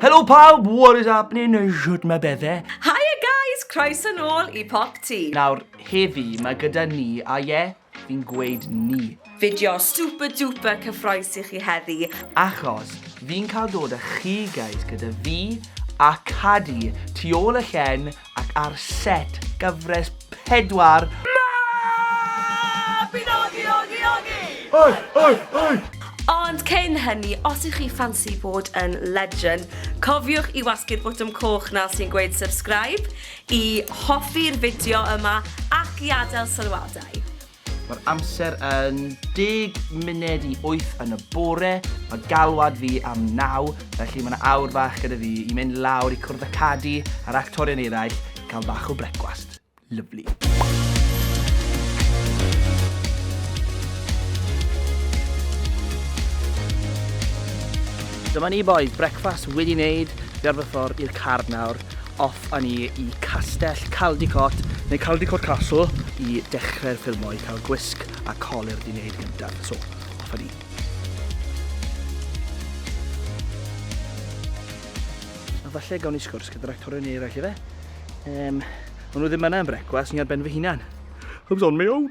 Helo pawb, what is happening? Shwt mae bethau? Hiya guys, croeso nôl i Pop Tea. Nawr, heddi, mae gyda ni, a ie, Fi'n gweud ni. Fideo super duper cyffroes i chi heddi. Achos fi'n cael dod a chi guys gyda fi a Cadi tu ôl y llen ac ar set gyfres pedwar Mabinogi ogi ogi ogi! Oi oi oi! Ond cyn hynny, os ych chi ffansi bod yn legend, cofiwch i wasgu'r botwm coch 'na sy'n gweud subscribe, I hoffi'r fideo yma ac i adael sylwadau. Mae'r amser yn deg munud i wyth yn y bore, mae galwad fi am naw, felly mae 'na awr fach gyda fi i mynd lawr i cwrdd â Cadi a'r actorion eraill i cael bach o brecwast. Lyfli. Dyma ni bois, brecwast wedi 'neud, fi ar fy ffordd i'r car nawr. Off a ni i Castell Caldicot, neu Caldicot Castle, i dechrau'r ffilmo, i cael gwisg a colur di wneud gyntaf. So, off a ni. falle gawn ni sgwrs gyda'r actorion neu eraill ife? Um, maen nhw ddim yna yn brecwas, ni ar ben fy hunan. Hwbs on my own!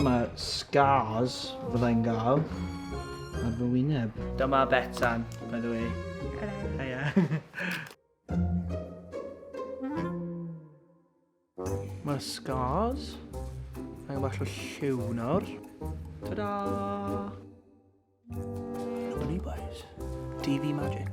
Dyma scars fyddai'n gael ar fy wyneb. Dyma Betsan, by the way. Hello. Hiya. Mae scars. Mae bach o lliw nawr. Ta-da! Dyma ni boys. DV Magic.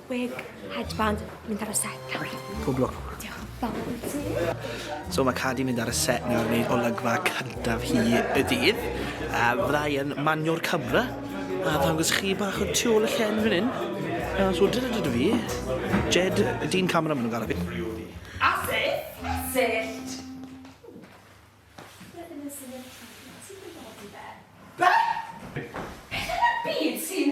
Wig, headband, mynd ar y set nawr. Pob lwc. Diolch yn fawr i ti. So mae Cadi'n mynd ar y set nawr i wneud olygfa cyntaf hi y dydd. A fydda i yn manio'r camera a ddangos chi bach o tu ôl y llen fan hyn. A so dyna dyd o fi. Jed, dyn camera maen nhw'n galw fi. A syllt! Syllt! Be? Beth yn y byd sy'n...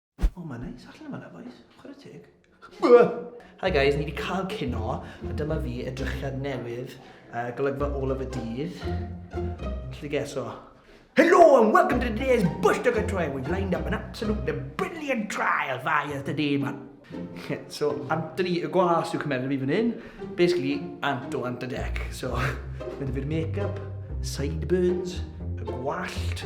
O, mae'n neis allan yma na, boys. Chwarae teg. Hi guys, ni wedi cael cino, a dyma fi edrychiad newydd, uh, golygfa ôl of y dydd. Lly geso. Hello and welcome to today's Bush Dugger Trial. We've lined up an absolutely brilliant trial for you today, man. so, Anthony ni y gwas yw cymeriad fi fan hyn. Basically, Anto Ant y Dec. So, mae dy fi'r make-up, sideburns, y gwallt,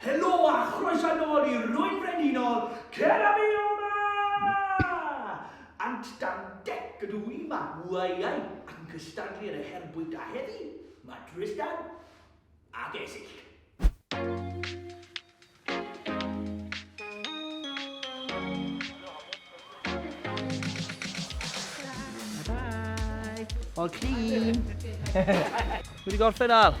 Helo a chroeso nôl i Rwy'n Frenhinol, cer â fi o'ma! Ant dan dec ydw i, mae wyau ac yn cystadlu yn y her bwyta heddi, mae Tristan ac Esyll. Bye! All clean! Wedi gorffen Al?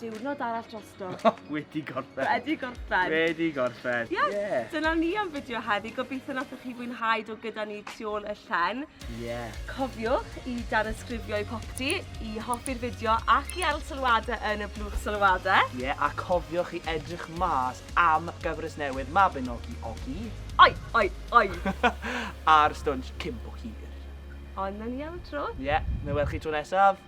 Diwrnod arall drosto. Oh, wedi gorffen. Wedi gorffen. Wedi gorffen. Yes, yeah. dyna ni am fideo heddi. Gobeithio nathoch chi fwynhau do gyda ni tu ôl y llen. Yeah. Cofiwch i danysgrifio i popty, i hoffi'r fideo ac i ail sylwadau yn y blwch sylwadau. Ie, yeah, a cofiwch i edrych mas am gyfres newydd Mabinogi Ogi. Oi, oi, oi. A'r stwnsh cympo hir. Ond na ni am y tro. Ie, yeah, na welch chi tro nesaf.